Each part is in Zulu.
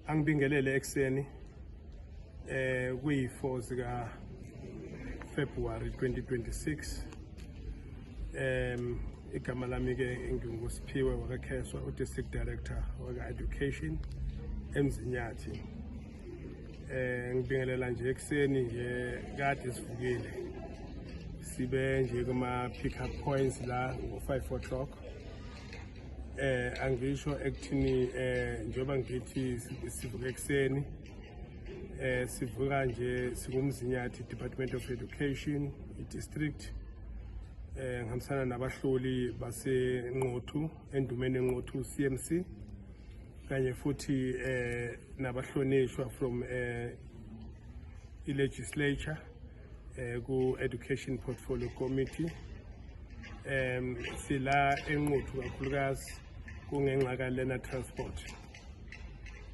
angibingelele ekuseni eh kuyi-4 zika February 2026 em igama lami ke nginguSiphiwe wakaKheswa uDistrict Director waka-Education eMzinyathi eh ngibingelela nje ekuseni nje kade sivukile sibe nje kuma pick up points la ngo 5 o'clock eh angisho ekuthini eh njengoba ngithi sivuka ekuseni eh sivuka nje sikumzinyathi Department of Education idistrict eh ngihambisana nabahloli basenqothu endumeni enqothu CMC kanye futhi eh nabahlonishwa from eh i-legislature eh, ku-education portfolio committee um sila enquthu kakhulukazi kungenxa kalena transport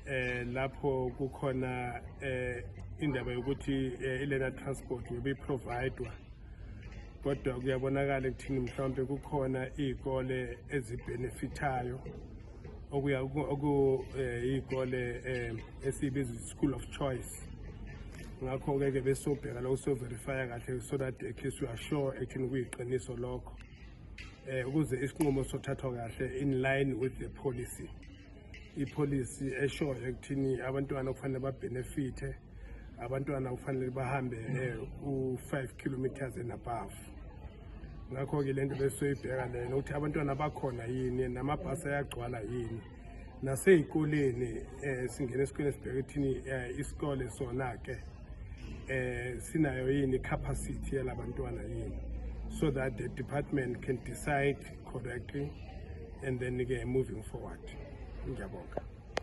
eh lapho kukhona eh indaba yokuthi eh, ilena transport yobe providwa kodwa kuyabonakala ekuthini mhlawumbe kukhona iy'kole ezibenefithayo okuya okuyikole eh, um eh, esiyibiza school of choice ngakho-ke ke besobheka lokho soverifya kahle so that at least we are sure ekuthini kuyiqiniso lokho eh ukuze isinqumo sothathwa kahle in line with the policy ipolicy eshoyo ekuthini abantwana kufanele babhenefithe abantwana kufanele bahambe eh, u-5 kilometers and above ngakho-ke le nto besiyoyibheka lena ukuthi abantwana bakhona yini namabhasi ayagcwala yini nasey'koleni um singena esikoleni sibheke ekuthini um eh, isikole sona-ke um sinayo yini i-capacity yalabantwana yini so that the department can decide correctly and then-ke moving forward ngiyabonga